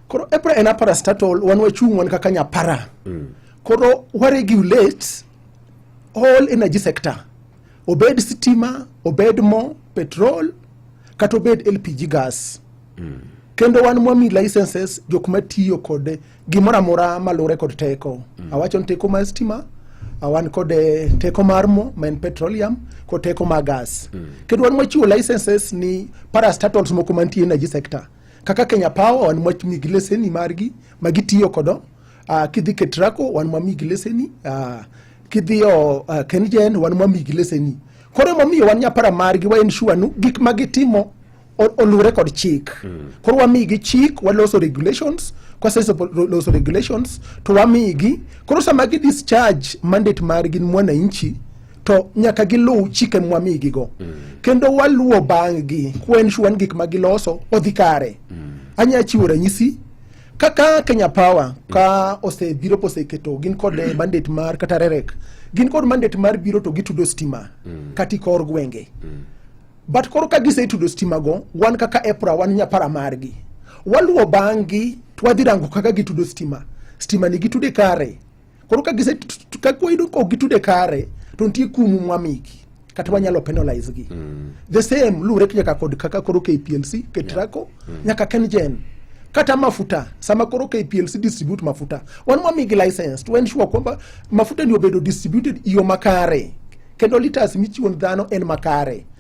koro epra en apara statal wan wachung' wan kaka nyapara mm. koro waregulate all energy sector obed stima obed mo petrol kata obed lpg gas mm. kendo wan mwami licenses jok matiyo kod gimoro amora malure kod teko mm. awacho ni teko mar stima awan kod eh, teko mar mo ma en petroleum kod teko mar gas mm. kendo wan mwachiwo licenses ni parastatals moko mantie energy sector kaka Kenya Power wan mwamigi leseni margi ma gitiyo kodo uh, kidhi Ketraco wan mwamigi leseni uh, kidhiyo uh, Kengen wan mwamigi leseni koro emomiyo wan nyapara margi wa ensure nu gik ma gitimo oluwre kod chik mm. koro wamigi chik waloso regulations kwaseloso regulations to wamigi koro sama gi discharge mandate margi ni mwananchi to nyaka giluw chike mwamigigo mm. kendo waluwo bang'gi kuensure ni gik ma giloso odhi kare mm. anya chiwo ranyisi kaka Kenya Power ka osebiro poseketo gin kod eh, mandate mar kata rerek gin kod mandate mar biro to gitudo stima mm. kati kor gwenge mm. but koro ka gisetudo stima go wan kaka EPRA wan nyapara margi waluwo bang'gi twadhi rango kaka gitudo stima stima ni gitude kare Koro ka gise ka kwayudo ok gitude kare to nitie kumu mwamiki kata wanyalo penalize gi mm. the same luwre nyaka kod kaka koro KPLC ketrako yeah. mm. nyaka kenjen kata mafuta sama koro KPLC distribute mafuta wan mwamigi license to ensure kwamba mafuta ni obedo distributed iyo makare kendo liters michiwo dhano en makare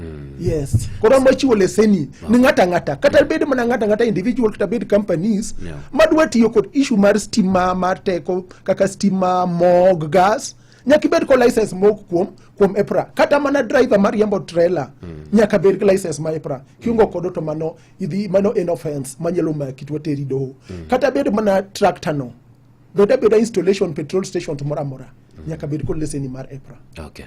Mm. yes koro ma chiwo leseni ni ng'ata ng'ata kata bed mana ng'ata ng'ata individual kata bed companies Yeah. madwa tiyo kod issue mar stima mar teko kaka stima mog gas nyaka ibed kod license mog kuom kuom EPRA kata mana driver mar riembo trailer nyaka bed gi license ma EPRA kiungo kodo to mano idhi mano en offense manyalo maki to teri doho kata bed mana tractor no beda beda installation petrol station to moro amora nyaka bed kod leseni mar EPRA Okay.